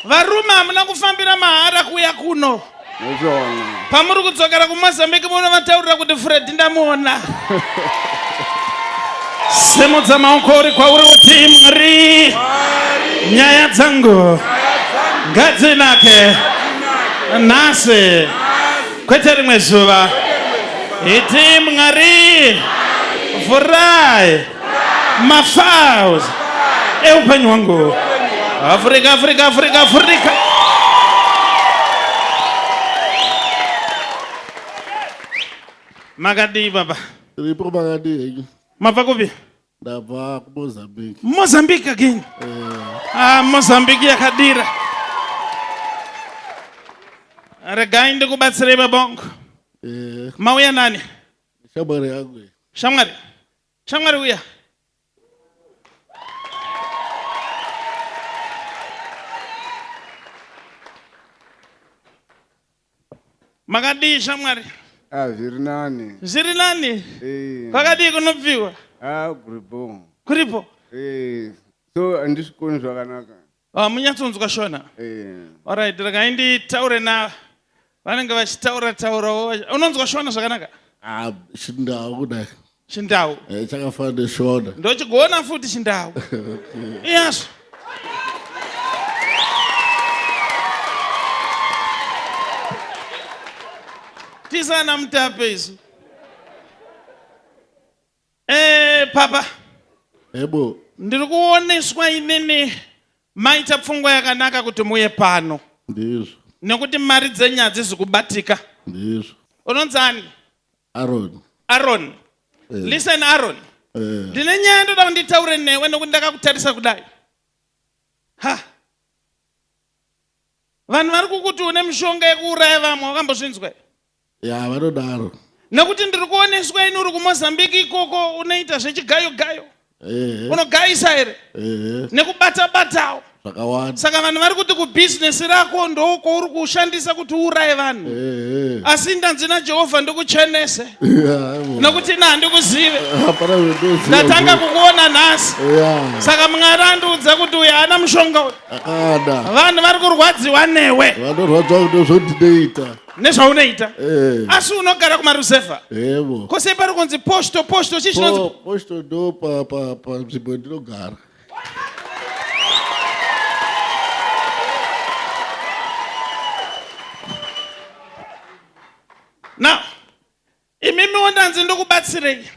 Varume hamuna kufambira mahara kuuya kuno. Ndozvona. Pamuri kudzokera kuMozambique munovataurira kuti Fred ndamuona. Simudza maoko uri kwauri uti Mwari. Nyaya dzangu ngadzinake nhasi kwete rimwe zuva. Iti Mwari vhurai mafiles eupenyu hwangu afrika afrika afrika afrika makadii baba ripo makadii henyu mabva kupi ndabva kumozambique mozambique again eh. ah, mozambique yakadira regai ndikubatsirei babongo eh. mauya nani Shamwari yangu. iyi. Shamwari. Shamwari uya. Makadii shamwari? Ah, zviri nani. Zviri nani? Eh. Kwakadii kunobviwa? Ah, kuripo. Kuripo. Eh, so andisvikoni zvakanaka. Ah, munyatsonzwa shona Eh, orit regai nditaure na vanenge vachitaura taurawo vachi- unonzwa shona zvakanaka ah, chindau kudai chindau Eh, chakafana neshona ndochigona futi chindau iyazvo tisana mutape isu Eh, papa. Ebo. Ndiri kuoneswa inini maita pfungwa yakanaka kuti muye pano. Ndizvo. Nekuti mari dzenyu hadzizi kubatika. Ndizvo. Unonzi ani? Aaron. Aaron. Eh. Listen Aaron. Eh. Ndine nyaya ndoda kunditaure newe nekuti ndakakutarisa kudai. Ha. Vanhu vari kukuti une mishonga yekuuraya vamwe wakambozvinzwa here? ya vanodaro nekuti ndiri kuoneswa ini uri kumozambique ikoko unoita zvechigayo gayo unogayisa here nekubata batawo zvakawanda saka vanhu vari kuti kubhizinesi rako ndokwauri kushandisa kuti uuraye vanhu asi ndanzi najehovha ndikuchenese nokuti ina handikuzive ndatanga kukuona nhasi saka mwari andiudza kuti uyo haana mushonga uyu vanhu vari kurwadziwa newe vanorwadziwa kuti zvondinoita nezvaunoita eh. asi unogara kumaruzevha evo ko sei pari kunzi posto posto chii chinonzi Po- posto ndo pa- pa- panzvimbo yandinogara now imimiwo ndanzi ndokubatsirei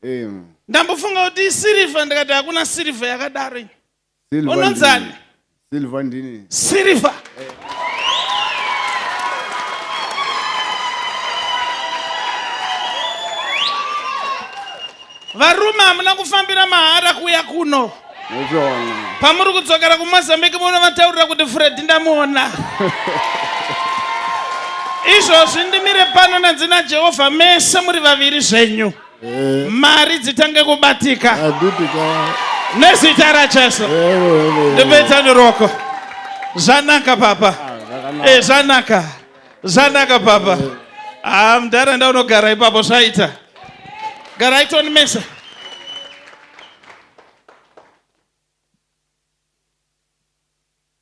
Em, ndambofunga kuti isirivha ndikati hakuna sirivha yakadaro iyi unonzani silver ndini silver eh. varume hamuna kufambira mahara kuuya kuno pamuri kudzokera kumozambique munovataurira kuti fredi ndamuona izvozvi ndimire pano nenzina jehovha mese muri vaviri zvenyu eh. mari dzitange kubatika nezita rajesu eh, ndipedza niroko zvanaka papa ah, eh, zvanaka zvanaka papa haa ah, mdhara ndaunogara ipapo zvaita garai toni mesa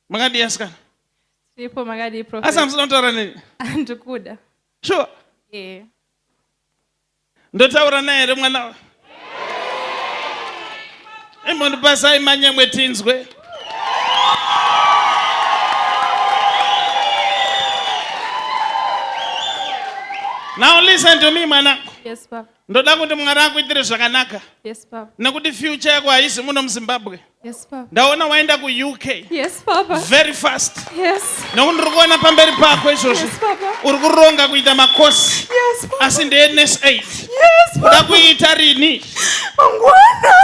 makadii asikana ipo makadii asi amusina kutaura neni ndikuda sure yeah. Ndotaura naye here mwana wa? Imbondipasai manyemwe tinzwe. Now listen to me mwanangu. Yes, Papa. Ndoda kuti Mwari akuitire zvakanaka. Yes, Papa. Nekuti future yako haizi muno muZimbabwe. Yes, Papa. ndaona waenda kuuk Yes, Papa. very fast Yes. nokuti ndiri kuona pamberi pako izvozvi Yes, Papa. uri kuronga kuita makosi Yes, Papa. asi ndeness aid Yes, uda Papa. kuiita rini Mangwana.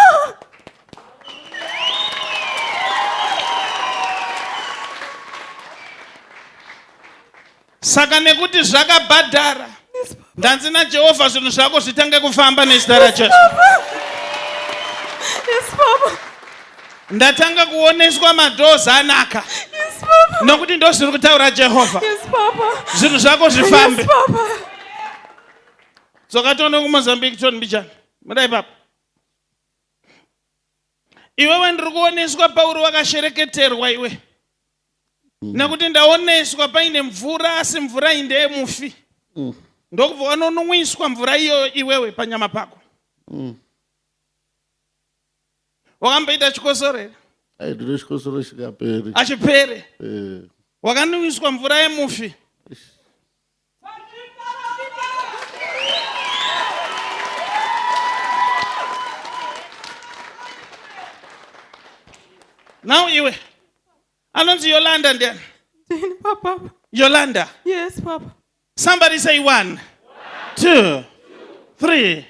Saka nekuti zvakabhadhara ndanzi naJehovha zvinhu zvako zvitange kufamba nezita raJesu. Ndatanga kuoneswa madoors anaka. Nokuti ndozviri kutaura Jehovha. Zvinhu zvako zvifambe. Dzoka tione kuMozambique John Mbijana. Mudai papa. Iwewe ndiri kuoneswa Pauro wakashereketerwa iwe. mm. nekuti ndaoneswa paine mvura asi mvura iyi ndeyemufi mm. ndokubva wanonwiswa mvura iyoyo iwewe panyama pako mm. wakamboita chikosoro here aitire chikosoro chikaperi achipere eh. wakanwiswa mvura yemufi Now iwe anonzi Yolanda ndiani? Papa. Yolanda. Yes, Papa. Somebody say one, one two, three, three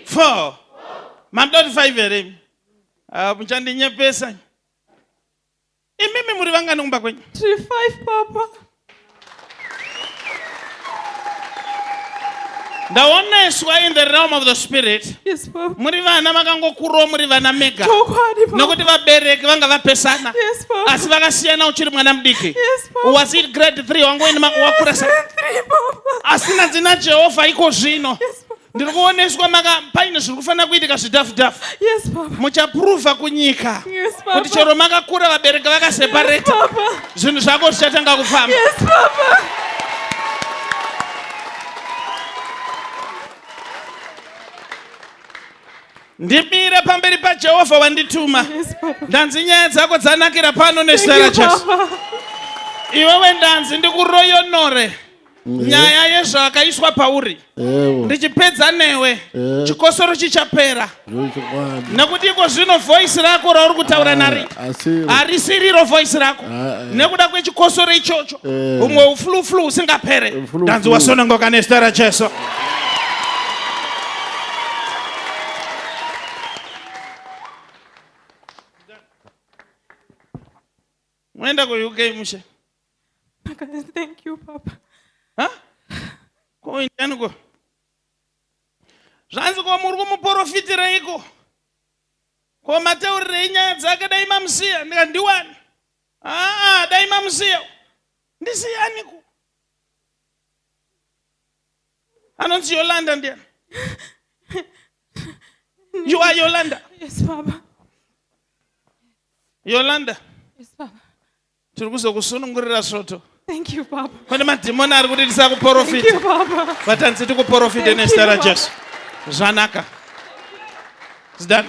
four. Mandoti five here? Ah, muchandinyepesa. Imimi muri vangani kumba kwenyu? Tiri five papa. ndaoneswa in the realm of the spirit yes, muri vana makangokurawo muri vana mega nokuti vabereki vanga vapesana yes, asi vakasiyana uchiri mwana mudiki yes, was it grade 3 wangoinima wakurasa asi nanzi najehovha iko zvino yes, ndiri kuoneswa maka paine zviri kufanira kuitika zvidhafu dhafu yes, muchapruvha kunyika yes, kuti chero makakura vabereki vakasepareta yes, zvinhu zvako zvichatanga kufamba yes, ndimire pamberi pajehovha wandituma yes, ndanzi nyaya dzako dzanakira pano nezita rajesu iwewe ndanzi ndikuroyonore nyaya yezvakaiswa pauri ndichipedza newe chikosoro chichapera nekuti iko zvino voisi rako rauri kutaura ah, nari harisiriro voisi rako ah, eh. nekuda kwechikosoro ichocho eh. umwe ufluflu usingapere ndanzi wasonongoka nezita rajesu Mwaenda ku UK mushe? Makazi thank you papa. Ha? Ko indani ko. Zvanzi ko muri kumuporofitireiko? Ko mataurirei nyaya dzake dai mamusiya ndika ndiwani? Ah, dai mamusiya. Ndisiyani ku. Anonzi Yolanda ndiyani. You are Yolanda. Yes, Baba. yolanda Yes, Papa. tiri kuzokusunungurira svoto Thank you, Papa. pane madhimoni ari kuti Thank you, tisakuporofita Papa. but hanzi tikuporofite Thank nezita you, rajesu zvanaka zidani